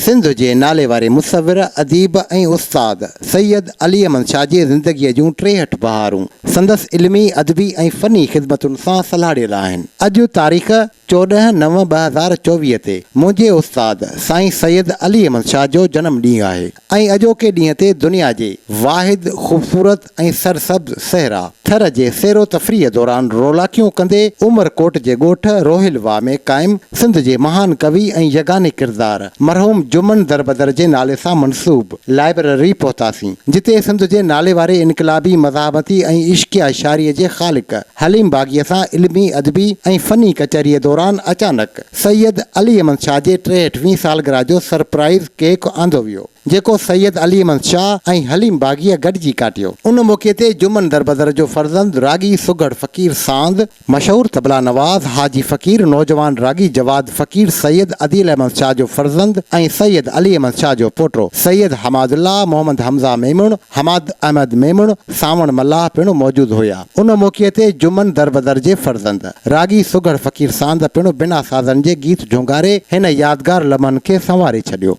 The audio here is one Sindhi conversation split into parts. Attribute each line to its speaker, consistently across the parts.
Speaker 1: سنڌ جي ناليواري مصور، اديب ۽ استاد سيد علي احمد شاهه جي زندگيء جون ٽيهٺ بهارون سندس علمي، ادبي ۽ فني خدمتن سان سلهاڙيل آهن. اڄ تاريخ چوڏهن نو ٻه هزار چوويهه تي منهنجي استاد سائين سيد علي احمد شاهه جو جنم ڏينهن آهي ۽ اڄوڪي ڏينهن تي دنيا جي واحد خوبصورت، ۽ سرسبز صحرا ٿر جي سير و تفريح دوران رولاڪيون ڪندي عمر ڪوٽ جي ڳوٺ روهيل واهه ۾ قائم سنڌ جي مهان ڪوي ۽ يگاني ڪردار مرحوم جمن دربدر جي نالي سان منسوب لائبرري پهتاسين جتي سنڌ جي ناليواري انقلابي مزاحمتي ۽ عشقيه شاعري جي خالق حليم باغيء سان علمي ادبي ۽ فني ڪچهريء دوران اچانڪ سيد علي احمد شاهه جي ٽيهٺ وين سالگرهه جو سرپرائيز ڪيڪ آندو ويو. جيڪو سيد علي احمد شاهه ۽ حليم باغيء گڏجي ڪاٽيو. ان موقعي تي جمن دربدر جو فرزند راڳي سگهڙ فقير ساند، مشهور طبلا نواز حاجي فقير، نوجوان راڳي جواد فقير، سيد عديل احمد شاهه جو فرزند ۽ سيد علي احمد شاهه جو پوٽو، سيد حماد الله، محمد حمزه ميمڻ، حماد احمد ميمڻ، سانوڻ ملاح پڻ موجود هيا. ان موقعي تي جمن دربدر جي فرزند راڳي سگهڙ فقير ساند پڻ بنا سازن جي گيت جهونگاري هن يادگار لمحن کي سنواري ڇڏيو.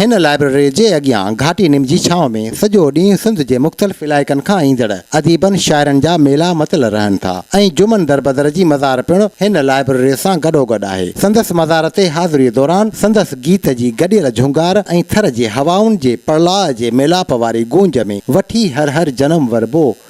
Speaker 1: هن لائبريري جي اڳيان گهاٽي نم جي ڇانو ۾ سڄو ڏينهن سنڌ جي مختلف علائقن کان ايندڙ اديبن شاعرن جا ميلا متل رهن ٿا ۽ جمن دربدر جي مزار پڻ هن لائبريري سان گڏوگڏ آهي سندس مزار تي حاضري دوران سندس گيت جي گڏيل جهونگار ۽ ٿر جي هوائن جي پڙلاء جي ميلاپ واري گونج ۾ وٺي هر هر جنم وربو